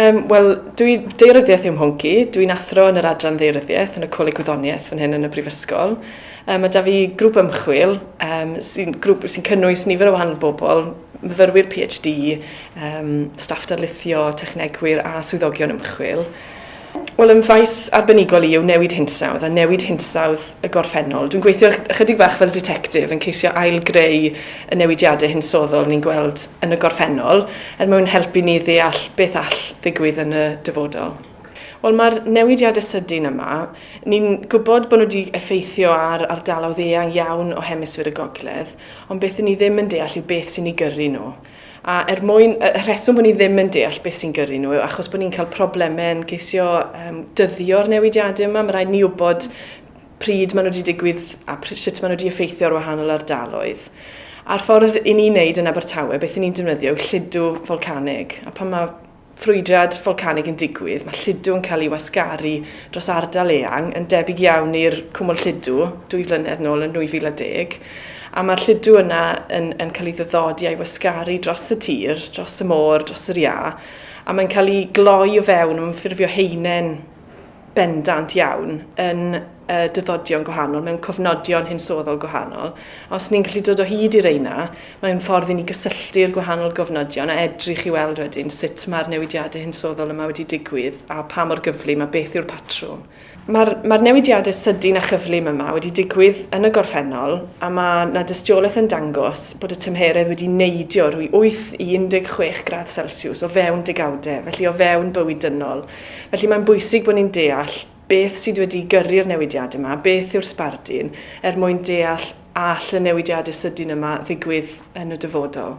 Um, Wel, dwi deiryddiaeth yw mhonci. Dwi'n athro yn yr adran ddeiryddiaeth yn y Coleg Gwyddoniaeth fan hyn yn y Brifysgol. Um, mae da fi grŵp ymchwil um, sy'n sy cynnwys nifer o wahanol bobl, myfyrwyr PhD, um, staff darlithio, technegwyr a swyddogion ymchwil. Wel, yn faes arbenigol i yw newid hinsawdd a newid hinsawdd y gorffennol. Dwi'n gweithio ychydig bach fel ditectif yn ceisio ail-greu y newidiadau hinsoddol ni'n gweld yn y gorffennol er mwyn helpu ni ddeall beth all ddigwydd yn y dyfodol. Wel, mae'r newidiadau sydyn yma, ni'n gwybod bod nhw wedi effeithio ar ardaloedd eang iawn o hemisffer y gogledd, ond beth 'yn ni ddim yn deall yw beth sy'n eu gyrru nhw. A er mwyn, y rheswm bod ni ddim yn deall beth sy'n gyrru nhw yw achos bod ni'n cael problemau yn ceisio um, dyddio'r newidiadau yma. Mae rhaid ni wybod pryd maen nhw wedi digwydd a pryd, sut maen nhw wedi effeithio ar wahanol ardaloedd. A'r ffordd i ni wneud yn Abertawe, beth ni'n defnyddio yw lludw folcanig. A pan mae ffrwydrad folcanig yn digwydd, mae lludw yn cael ei wasgaru dros ardal eang, yn debyg iawn i'r cwmwl lludw dwy flynedd nôl yn 2010, a mae'r lludw yna yn, yn cael ei ddyddodi a'i wasgaru dros y tir, dros y môr, dros yr iâ, a mae'n cael ei gloi o fewn, mae'n ffurfio heinen, bendant iawn yn y dyddodion gwahanol, mewn cofnodion hinsoddol gwahanol. Os ni'n gallu dod o hyd i reina, mae'n ffordd i ni gysylltu'r gwahanol gofnodion a edrych i weld wedyn sut mae'r newidiadau hinsoddol yma wedi digwydd a pa mor gyflym a beth yw'r patrwm. Mae'r mae newidiadau sydyn a chyflym yma wedi digwydd yn y gorffennol a mae na dystiolaeth yn dangos bod y tymheredd wedi neidio rwy 8 i 16 gradd Celsius o fewn degawdau, felly o fewn bywyd dynol. Felly mae'n bwysig bod ni'n deall beth sydd wedi gyrru'r newidiadau yma, beth yw'r sbardun, er mwyn deall a all y newidiadau sydyn yma ddigwydd yn y dyfodol.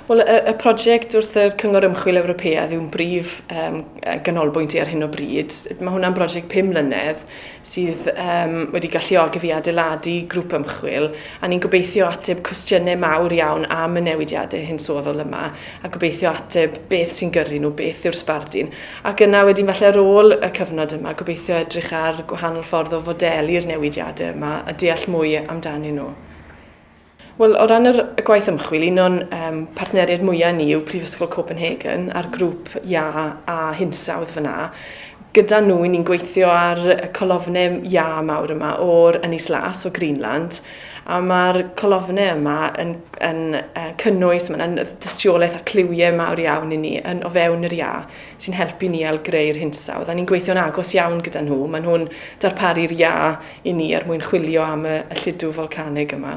Wel, y, y prosiect wrth y Cyngor Ymchwil Ewropeaidd yw'n brif um, ganolbwynt i ar hyn o bryd. Mae hwnna'n brosiect 5 mlynedd sydd um, wedi galluogi fi adeiladu grŵp ymchwil a ni'n gobeithio ateb cwestiynau mawr iawn am y newidiadau hinsoddol yma a gobeithio ateb beth sy'n gyrru nhw, beth yw'r sbardun. Ac yna wedyn falle ar ôl y cyfnod yma, gobeithio edrych ar gwahanol ffordd o fodeli'r newidiadau yma a deall mwy amdanyn nhw. Wel, o ran yr, y gwaith ymchwil, un o'n um, partneriaid mwyaf ni yw Prifysgol Copenhagen a'r grŵp Ia a Hinsawdd fyna. Gyda nhw, ni'n gweithio ar y colofnau Ia mawr yma o'r Ynys Las o Greenland A mae'r colofnau yma yn, yn uh, cynnwys, mae'n dystiolaeth a cliwiau mawr iawn i ni yn o fewn yr ia sy'n helpu ni al greu'r hinsawdd. A ni'n gweithio'n agos iawn gyda nhw. Maen nhw'n darparu'r ia i ni er mwyn chwilio am y, y lludw folcanig yma.